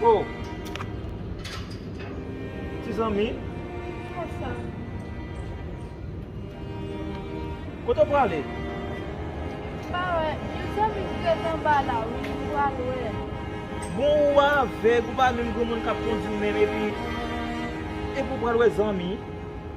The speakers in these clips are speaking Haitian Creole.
Oh ti zanmi Kote ou prale? Pa wè yon zanmi ki ret anba la wi m pral wè l Bon ou avèg ou pa menm granmoun kap kondi menm epi epi ou pral wè zanmi?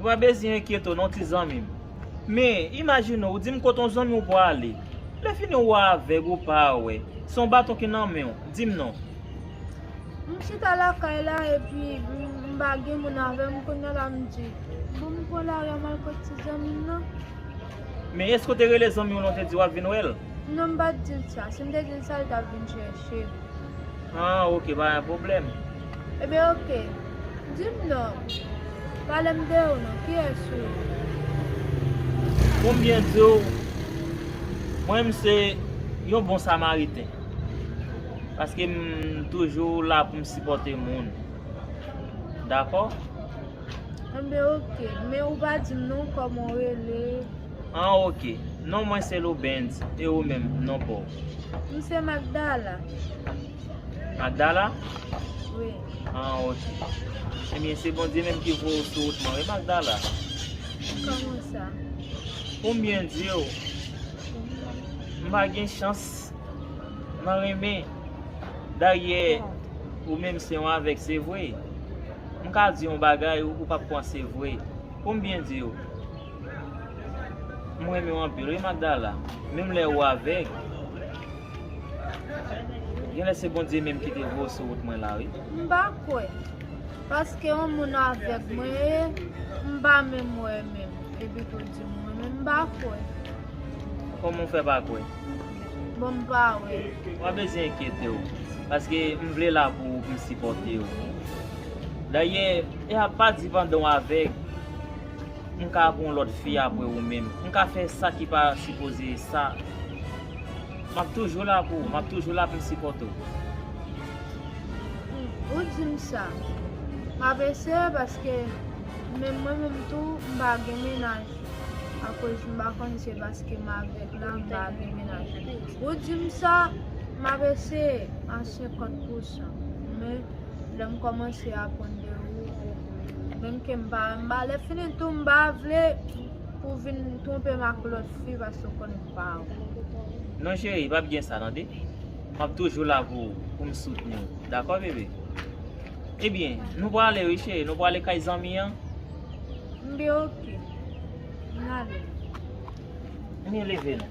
Ou pa bezyen enkyete w non ti zanmi m. Men, imajine w, ou di m kote yon zanmi w prale. Lèfini ou avèg, ou pa wè. Se yon baton ki nan men w. Di m non. M chita lakay la epi m pa gen moun avè m kounye a la m di, bon m pran lari a m al kot ti zanmi m nan. Men, èske w te rele zanmi w la ou te di w ap vin wè l? Non, m pa t di l sa. Si m te di l sa, li t ap vin chèche m. Ahh ok pa gen pwoblèm. Ebyen ok. Dim non. Palem de ou non. Kiyès ou ye? Poum byen diw, mwen m se yon bon samariten. Paske m toujou la poum sipòte moun. Dakò? Ebyen ok. Men ou pa dim non kòman ou rele. An ok. Non mwen se Loubens. E ou menm, non pa w? M se Magdala. Magdala? Wi. An ok. Ebyen se Bondye menm ki voye w sou wout mwen wi Magdala. Kòman sa? Pou m byen di w, m pa gen chans nan renmen. Dayè, ou menm se yon avèg se vre. M ka di w yon bagay ou pa p kwè se vre. Pou m byen di w. M renmen w anpil wi Magdala, menm lè ou avèg, gen lè se Bondye menm ki te voye w sou wout mwen la wi. M pa kwè, paske yon moun avèg mwen ye, m pa menm wè menm, epi tou di m wè menm, m pa kwè. Kòman w fè pa kwè? Bon m pa wè. Pa bezyen enkyete w, paske m vle la pou ou pou m sipòte w. Dayè, e a pa di pandan w avèg. m ka ap yon lòt fi apre ou menm m ka fè sa ki pa sipoze sa m ap toujou la pou ou m ap toujou la pou m sipòte ou. Humm ou di m sa m ap eseye paske menm mwen menm tou m pa gen mennaj akoz m pa konn se paske m avèg la m pa gen mennaj ou di m sa m ap eseye a 50 pousan men lè m kòmanse aprann de ou menm ke m pa renmen lè fini tou m pa vle pou w vin twonpe m ak lòt fi paske ou konnen m pa ou. Non cheri pap gen sa tande map toujou la pou ou pou m soutni w dakò bebe ebyen nou prale wi cheri nou prale kay zanmi an. M byen ok nale. Ann yo leve nou.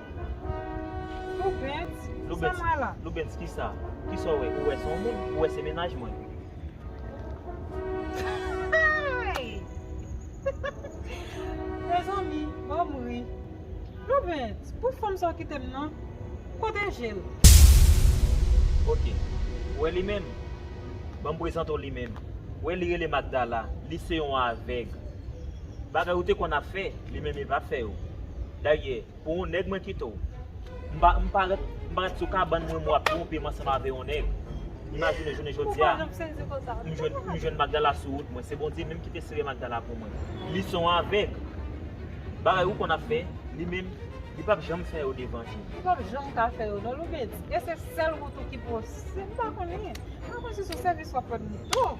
Loubens, sa m wè la? Loubens, ki sa? Ki sa w wè? Ou wè se yon moun? Ou wè se mennaj mwen? Hey! Mezanmi, ban m ri. Loubens, pou fanm sa w kite m nan? Kote je l? Ok. Ou wè li menm? Ban m prezante w li menm. Ou wè li rele Magdala. Li se yon avèg. Bagay ou te konn ap fè, li menm li pa fè yo. Dayè, pou yon nèg mwen kite w. M pa, m pa ret, m pa ret sou kabann mwen mwen ap twonpe m ansanm avè yon nèg. Imajine jounen jodi a, m jwenn, m jwenn Magdala sou wout mwen. Se Bondye menm ki te sere Magdala pou mwen. Li se yon avèg. Bagay ou konn ap fè, li menm, li pap janm fè yo devan je m. Ou pap janm ka fè yo non Loubens. E se sèl wout ou ki posib. M pa konnen. M pa konnen si se sèvis w ap rann m tou.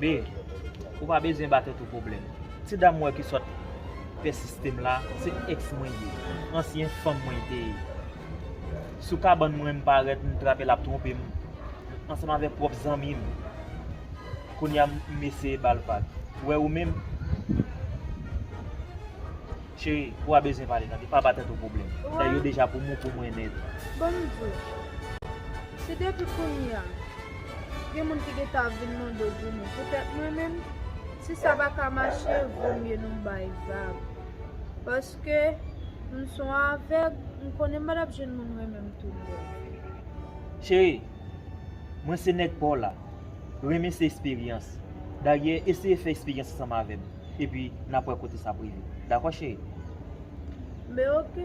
B, Ou pa bezyen ba tèt ou pwoblèm. Ti dam wè ki sot fè sistem la, se ex mwen li ye. Ansyen fanm mwen li te ye. Sou kabann mwen m parèt m trape lap twonpe m ansanm avèk pwòp zanmi m. Kounya m eseye ba l vag. Wè ou menm? Cheri, ou a bezwen pale tande, pa ba tèt ou pwoblèm. Fè yo deja pou mou pou mwen nèt. Bondye. Si depi kounye a, gen moun ki gentan ap vin mande goumou pou tèt mwen menm, si sa pa ka mache, vo mye nou bay vag. Paske, m s on avèg, m konnen m pa t ap jwenn moun renmen m tout bon. Cheri, mwen se nèg pa w la. Renmen se esperyans. Dayè, eseye fè esperyans ansanm avè m. epi nap wè kote sa ap rive dakò cheri? Men ok.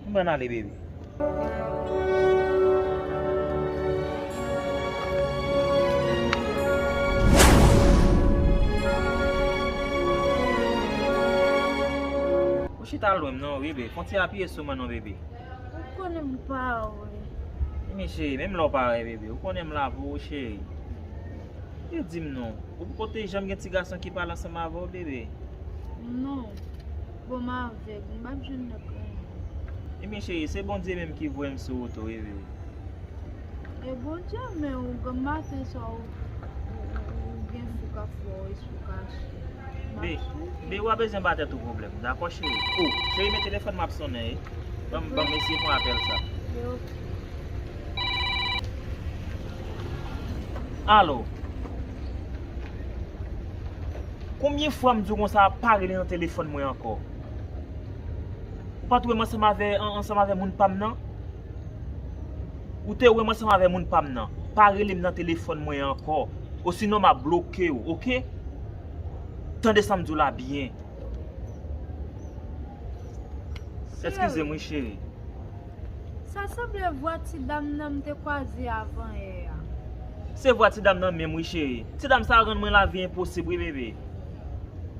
M pran ale baby. Ou chita lwen m non bebe konti apiye sou mwen non bebe. Ou konnen m pa wè. Emi cheri menm lè w pa wè bebe ou konnen m la pou ou cheri. E di m non, ou poko te janm gen ti gason ki pale ansanm avè w bebe? Non. Bon m avèg, m pap jwenn lòt moun. Ebyen cheri, se Bondye menm ki voye m sou wout ou wi bebe. E Bondye men w, granm maten sa w gen fou k ap wè w esou kache. M ap swiv ou. Bebe w pa bezwen ba tèt ou pwoblèm dakò cheri. O, cheri men telefòn m ap sonnen e. Ban m eseye pran apèl sa. Yo. Alo Konbyen fwa m di w konsa pa rele nan telefòn mwen ankò Ou pa t wè m ansanm avè ansanm avè moun pa m nan Ou te wè m ansanm avè moun pa m nan Pa rele m nan telefòn mwen ankò Osinon m ap bloke w ok Tande sa m di w la byen Eskize m wi cheri Sa sanble vwa ti dam nan m te kwaze avan yè a. Se vwa ti dam nan menm wi cheri. Ti dam sa rann mwen lavi enposib wi bebe.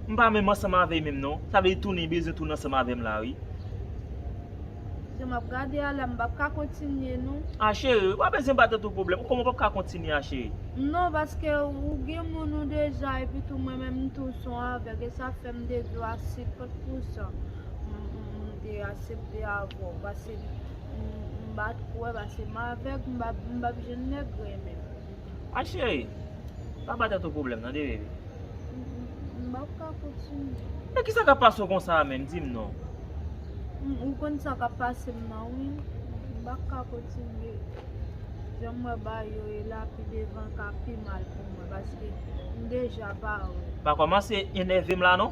M pa menm ansanm avè menm non. Sa vle di tou li bezwen tounen ansanm avè m la wi. Jan m ap gade a la m pap ka kontinye non. A cheri, ou pa bezwen bat tèt ou pwoblèm. Kòman ou pap ka kontinye a cheri? Non paske ou gen moun ou deja epi tou mwen menm tou m son avèg e sa fè m de dlo a 50 pousan. M te asepte avè w pase m pa t kwè pase m avèg m pa p jwenn nèg renmen m. A cheri, pa ba tèt ou pwoblèm nan de bebe. M pa p ka kontinye. Men ki sa k ap pase w konsa a menm, di m non. Ou konn sa k ap pase m nan wi, m pa p ka kontinye jan m wè bayo ye la pi devan ka pi mal pou mwen paske m deja pa wè. Pa kòmanse enève m la non.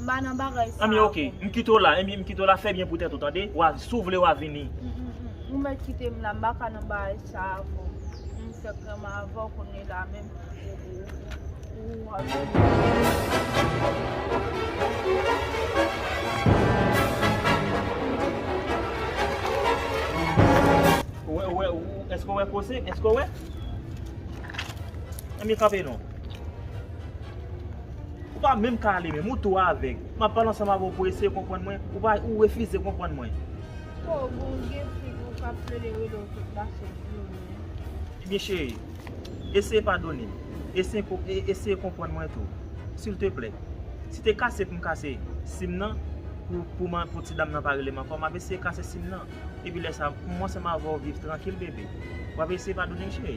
M pa nan bagay sa Anmyee ok m kite w la Anmyee m kite w la fè byen pou tèt ou tande wa si w vle wa vini Anmyee ou mèt kite m la m pa ka nan bagay sa avè w m fèk renmen avè w kounye la menm ou ou Ou wè ou wè èske w wè kose èske w wè Anmyee kanpe non. Ou pa menm ka ale menm, ou tou avèg. M ap pale ansanm avè w pou w eseye konprann mwen, ou pa, ou refize konprann mwen. Ho, bon w gen fi pou w ka plede rele w tout la sòt di w menm. Ebyen cheri, eseye padone m, eseye, eseye konprann mwen tou. Silteplè. Si te kase pou m kase sim nan, pou, pou m, pou ti dam nan pa rele m ankò, m ap eseye kase sim nan. Epi lè sa, pou mwen ansanm avè w viv trankil bebe. W ap eseye padone m cheri?